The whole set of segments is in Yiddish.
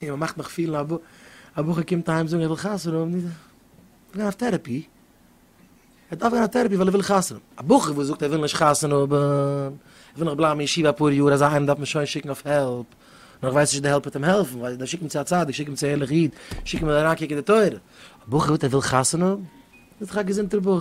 און מען מאכט מיך פילן א בחור קומט אהיים זאגן ער וויל חתונה האבן, דארף ער גיין אויף טערעפי, ער דארף גיין אויף טערעפי ווייל ער וויל חתונה האבן, א בחור וואס זאגט ער וויל נישט חתונה האבן, ער וויל נאך בלייבן אין ישיבה אפאר יאר, אזא איינעם דארף מען שוין שיקן אויף העלפ, נאר איך ווייס נישט צו די העלפ וועט אים העלפן, ווייל דארף שיק אים צו א צדיק, שיק אים צו א ערליכע איד, שיק אים אריינקוקן אין די תורה, א בחור זאגט ער וויל חתונה האבן, איז דאך א געזונטער בחור.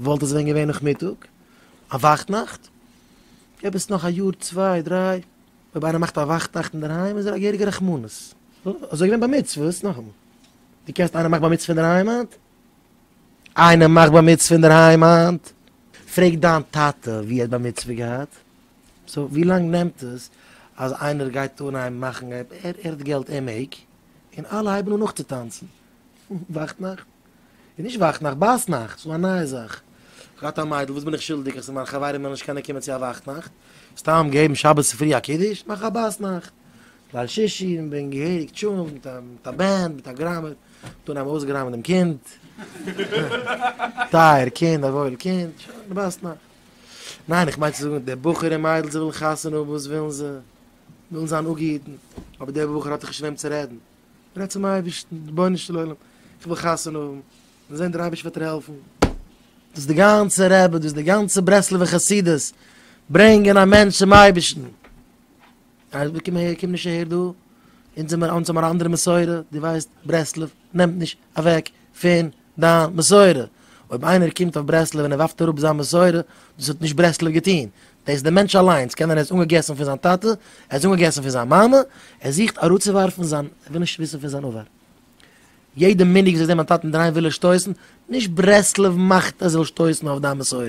וואלט עס ווען געווען נאכמיטאג, א וואכטנאכט, עפעס נאך א יאר צוויי דריי, אויב איינער מאכט א וואכטנאכט אינדערהיים איז ער א געהעריגע רחמנות. אזוי געווען בר מצוות, נאכאמאל, דו קענסט איינער מאכט בר מצוה אינדערהיים היינט? איינער מאכט בר מצוה אינדערהיים היינט? פרעג דיין טאטע ווי ער האט בר מצוה געהאט. סאו ווי לאנג נעמט עס אז איינער גייט אנהייבן מאכן, ער האט געלט ער מעג, און אלע הייבן אן נאכצוטאנצן? וואכטנאכט? איז נישט וואַכט נאַכט, בײַס נאַכט, ס'איז אַ נײַע זאַך. איך האָב געהאַט אַ מיידל, וואָס בין איך שולדיק, אַז ס'איז מײַן חבֿרים וועלן נישט קענען קומען צו אַ וואַכט נאַכט? סתּם געבן שבת צופֿרי אַ קידוש, מאַך אַ בײַס נאַכט, ליל שישי, און בין געהעריק טשולנט מיט אַ, מיט אַ בענד, מיט אַ גראַמער. דאָ האָבן אויסגעראַמט דעם קינד. טײַער קינד, אַ וואויל קינד. שוין, די בײַסט נאַכט. ניין, איך מיין צו זאָגן, די בחור און מיידל, זיי ווילן חתונה האָבן, וואָס ווילן זיי? ווילן זײַן אָפּגעהיטן. אָבער דער בחור האָט דאָך נישט צו וועם צו רעדן. רעד צום אייבערשטן, רבונו של עולם, איך וויל חתונה האבן, און זען דער אייבערשטער וועט דיר העלפן. דאס די גאנצע רבי, דאס די גאנצע ברסלב'ע חסידות, ברענגען א מענטש צום אייבערשטן. אייזיק קום אהער, קום נישט אהער דא, אונז זעמער, אונז האבן אן אנדערע מסורה, דו ווייסט ברסלב נעמט נישט אוועק פון דיין מסורה, אויב איינער קומט אויף ברסלב און ער ווארפט אראפ זיין מסורה, דאס האט נישט ברסלב געטון, דאס איז דער מענטש אליינס, קען זיין ער איז אנגעגעסן פון זיין טאטע, ער איז אנגעגעסן פון זיין מאמע, ער זוכט אראפצואווארפן זיין, ער וויל נישט וויסן פון זיין עבר. יעדע מנהג וואס איך זע מיין טאטן דרייען וויל ער שטויסן, נישט ברסלב מאכט ער זאל שטויסן אויף דיין מסורה.